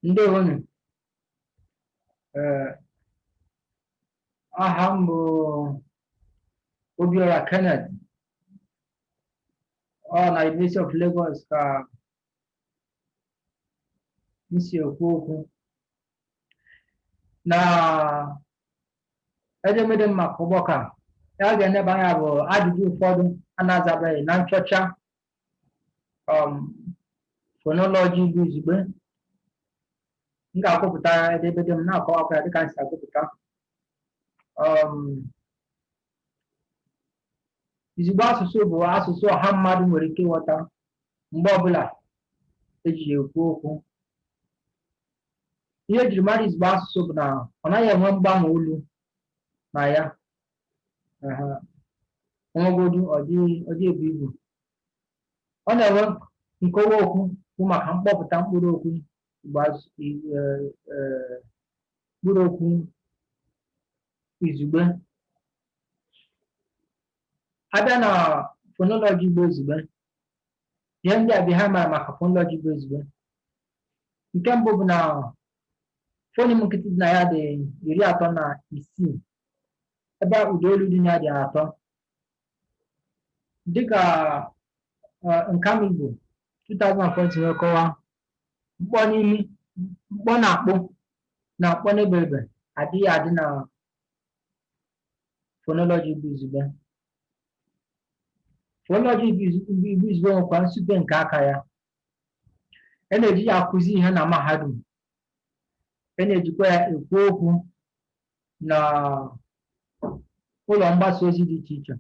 ndewonu ee aha m bụ obiora kenneth ọ na University of Lagos ka m si ekwu okwu na edemede m maka ọgbakọ a ihe a ga-eneba anya bụ ajụjụ ụfọdụ a na-azabeghị na nchọcha um, fonoloji Igbo izugbe m ga-agụpụta edemede m na-akọwakwa ya dịka m si agụpụta um, izugbe asụsụ bụ asụsụ ọha mmadụ nwere ike ịghọta mgbe ọbụla eji ya ekwu okwu ihe ejiri mara izugbe asụsụ bụ na ọ naghị enwe mgbanwe olu na ya o nwegodu ọ dị ebu ibu ọ na-enwe nkọwa okwu bụ maka mkpọpụta mkpụrụ okwu mkpụrụ okwu izugbe abịa na fonoloji Igbo izugbe ihe ndị a bụ ihe a mara maka fonoloji Igbo izugbe nke mbụ bụ na fonim nkịtị dị na ya dị iri atọ na isii ebe ụda olu dị na ya dị atọ dịka Nkamigbo 2014 wee kọwa mkpọ n'imi mkpọ na akpo na mkpọ n'eberebe adịghị adị na fonoloji Igbo izugbe fonoloji Igbo izugbe nwekwa nsupe nke aka ya e na-eji ya akụzi ihe na mahadum e na-ejikwa ya ekwu okwu na ụlọ mgbasa ozi dị iche iche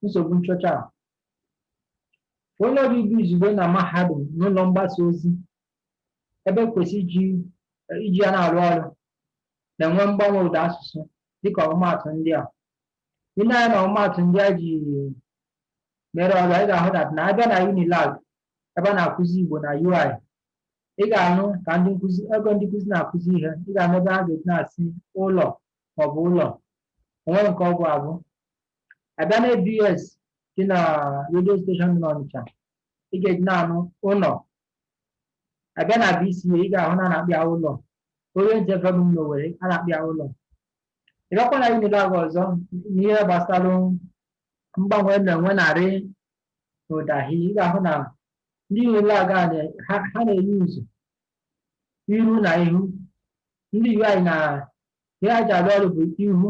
nsogbu nchọcha a fonoloji Igbo izugbe na mahadum na ụlọ mgbasa ozi ebe e kwesị iji iji ya na-arụ ọrụ na-enwe mgbanwe ụda asụsụ dịka ọmụmaatụ ndị a i nee anya na ọmụmaatụ ndị a ji mere ọrụ a ị ga-ahụ na na abịa na unilag ebe a na-akụzi Igbo na UI ị ga-anụ ka ndị nkụzi na-akụzi ihe ị ga-anụ ebe ha ga-eji na-asị ụlọ maọbụ ụlọ o nwe nke ọ bụ abụ abịa na ABS dị na redio steshọn dị n'Ọnịcha ị ga-eji na-anụ ụlọ abịa na BCA ị ga-ahụ na a na-akpọ ya ụlọ Orient FM n'Owere a na-akpọ ya ụlọ ị gakwa na Unilag ọzọ n'ihe gbasara mgbanwe na-enwe na rị n'ụda hi ị ga-ahụ na ndị unilag ha na-euse iru na ihu ndị ui na ihe a ji arụ ọrụ bụ ihu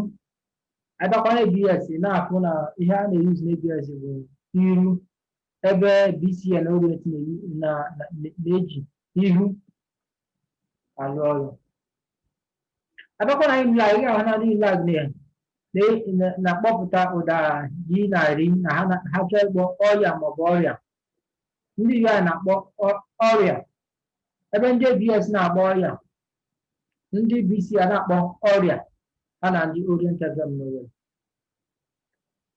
a bịakwa na abs na-afụ na ihe a na-euse na abs bụ iru ebe bca na orient na-eji ihu arụ ọrụ a bịakwa na Unilag ị ga-ahụ na ndị Unilag na- na- na-akpọpụta ụda yi na ri na ha na- ha chọọ ịkpọ ọyịa maọbụ ọrịa ndị UI a na-akpọ ọ- ọrịa ebe ndị ABS na-akpọ ọyịa ndị BCA na-akpọ ọrịa ha na ndị Orient FM n'Owerri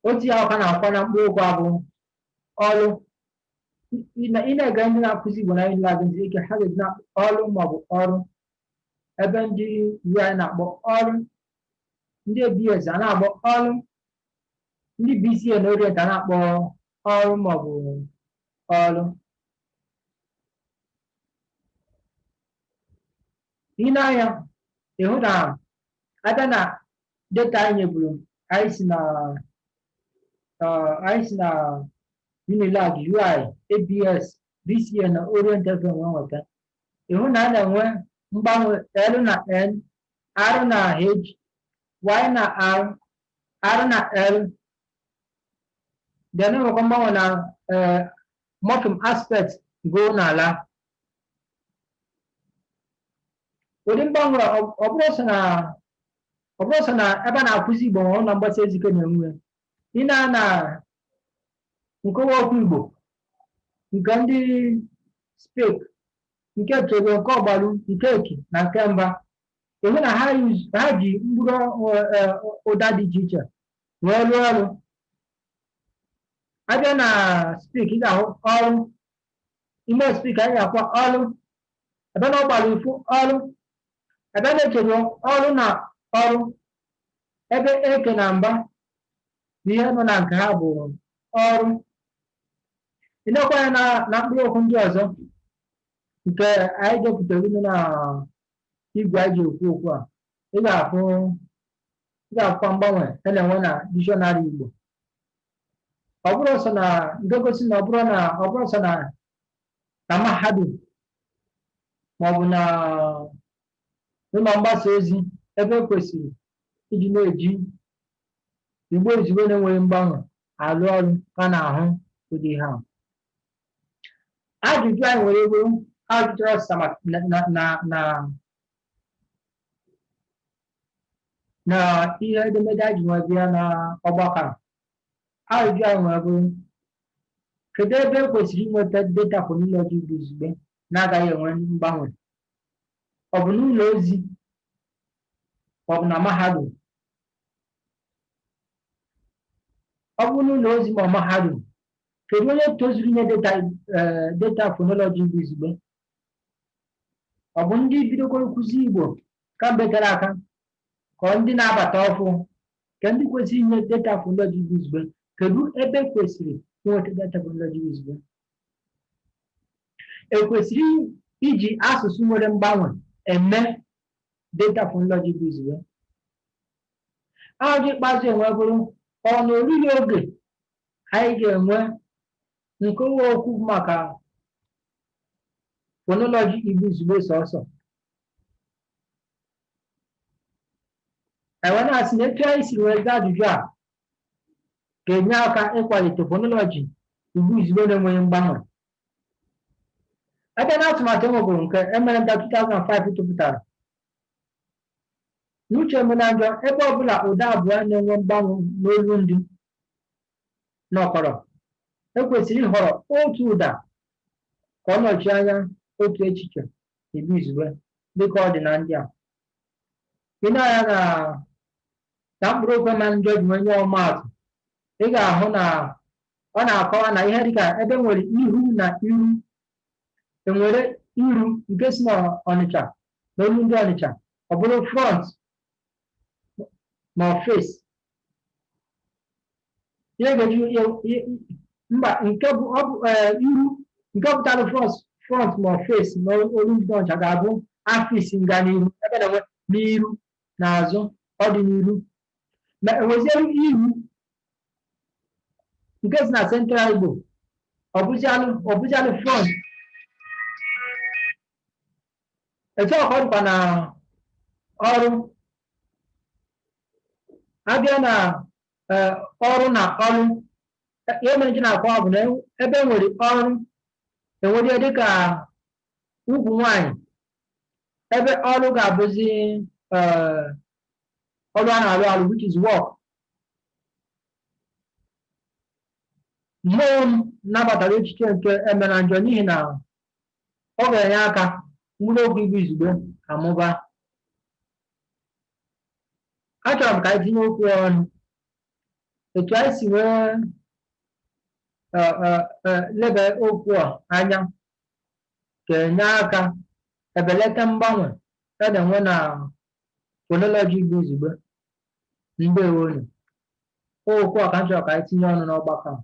otu ya ka na-akwa na mkpụrụ okwu a bụ ọlụ ị na- ị na-ege ndị na-akụzi Igbo na Unilag ntị ike ha ga-eji na ọlụ maọbụ ọrụ ebe ndị ui na-akpọ ọrụ ndị abs a na-akpọ ọrụ ndị bca na orient a na-akpọ ọrụ maọbụ ọrụ ị nee anya ị hụ na a bịa na data anyị nyeburu anyị si na anyị si na unilag ui abs BCA na Orient FM wee nweta ị hụ na a na-enwe mgbanwe L na N R na H Y na R R na L then enwekwa mgbanwe na eh, morpheme aspect go na la ụdị mgbanwe a, ọ ọ bụrọ sọ na ọ bụrọ sọ na ebe a na-akụzi Igbo ma ụlọ mgbasa ozi ka a na-enwe ị nee na nkọwa okwu Igbo nke ndị SPILC nke Echeruo nke Ọgbalụ nke Eke na nke Mba ị hụ na ha use- ha ji mkpụrụ ọ- eh, ụda dị iche iche wee rụọ ọrụ a bịa na SPILC ị ga-ahụ ọrụ ime SPILC anyị ga-ahụkwa ọlụ a bịa na Ọgbalụ ị fụ ọrụ a bịa na Echeruo ọrụ na ọrụ ebe eke na mba bụ ihe nọ na nke ha bụ ọrụ ị nekwa ya na na mkpụrụ okwu ndị ọzọ nke anyị depụtara unu na igwe anyị ji ekwu okwu a ị ga-afụ ị ga-afụkwa mgbanwe a na-enwe na dishọnarị Igbo ọ bụrọ sọ na nke na-egosi na ọ bụrọ na ọ bụrọ sọ na na mahadum maọbụ na ụlọ mgbasa ozi ebe e kwesịrị iji na-eji igbo izugbe na-enweghị mgbanwe alụ ọrụ ka na-ahụ ụdị ihe ahụ ajụjụ anyị nwere bụrụ ha jụtara ọsịsa maka na na na na na ihe edemede anyị ji wee bịa na ọgbakọ a. ajụjụ anyị nwere bụrụ kedu ebe e kwesịrị inweta data phonology igbo izugbe na-agaghị enwe mgbanwe ọ bụ n'ụlọ ozi ma ọ bụ na mahadum ọ bụ n'ụlọ ozi ma ọ mahadum kedu onye tozuru inye data eh, data fonology igbo izugbe ọ bụ ndị bidogoro nkụzi igbo kamgbe tere aka ka ọ ndị na-abata ọfụ kee ndị kwesịrị inye data fonology igbo izugbe kedu ebe kwesịrị inweta data fonology igbo izugbe ekwesịrị iji asụsụ nwere mgbanwe eme data phonology igbo izugbe ajụjụ ikpeazụ e nwere bụrụ ọ na o ruru oge anyị ga-enwe nkewa okwu maka phonology igbo izugbe sọsọ e wee na-asị na etu anyị si wee zaa ajụjụ a ga-enye aka ịkwalite fonoloji igbo izugbe na-enweghị mgbanwe ebe na atụmatụ e nwere bụrụ nke emenanjọ 2005 tụpụtara n'uche emenanjọ ebe ọbụla ụda abụọ na-enwe mgbanwe n'olu ndị nọkọrọ ekwesịrị ịhọrọ otu ụda ka ọ nọchie anya otu echiche n'igbo izugbe dịka ọ dị na ndị a i nee anya na na mkpụrụ okwu emenanjọ ji nwee nye ọmaatụ ị ga-ahụ na ọ na-akọwa na ihe dịka ebe nwere ihu na iru enwere iru nke si na ọnịcha na olu ndị ọnịcha ọ bụrụ front ma face ihe ga-eji ihe- ihe- mba nke bụ ọ bụ eh, iru nke pụtara front front ma face na olu ndị ọnịcha ga-abụ face nga n'iru ebe na enwe n'iru na azụ ọ dị n'iru ma enweziere iru nke si na central igbo ọ bụzialụ ọ bụzialụ front etu a ka ọ dịkwa na ọrụ abịa na eh, ọrụ na ọrụ eh, ihe mere ji na-akọ ọ bụ na e- ebe e nwere ọrụ enwere ihe dịka ugwu nwanyị ebe ọrụ ga-abụzi eh, ọrụ a na-arụ arụ which is work mmụọ m nabatara echiche nke emenanjọ n'ihi na ọ ga-enye aka mkpụrụ okwu igbo izugbe amụba achọrọ m ka anyị tinye okwu ọnụ etu anyị si wee leba okwu a anya ga-enye aka ebelata mgbanwe a na-enwe na fọnọlọjị igbo izugbe ndewonu okwu a ka m chọrọ ka anyị tinye ọnụ n'ọgbakọ a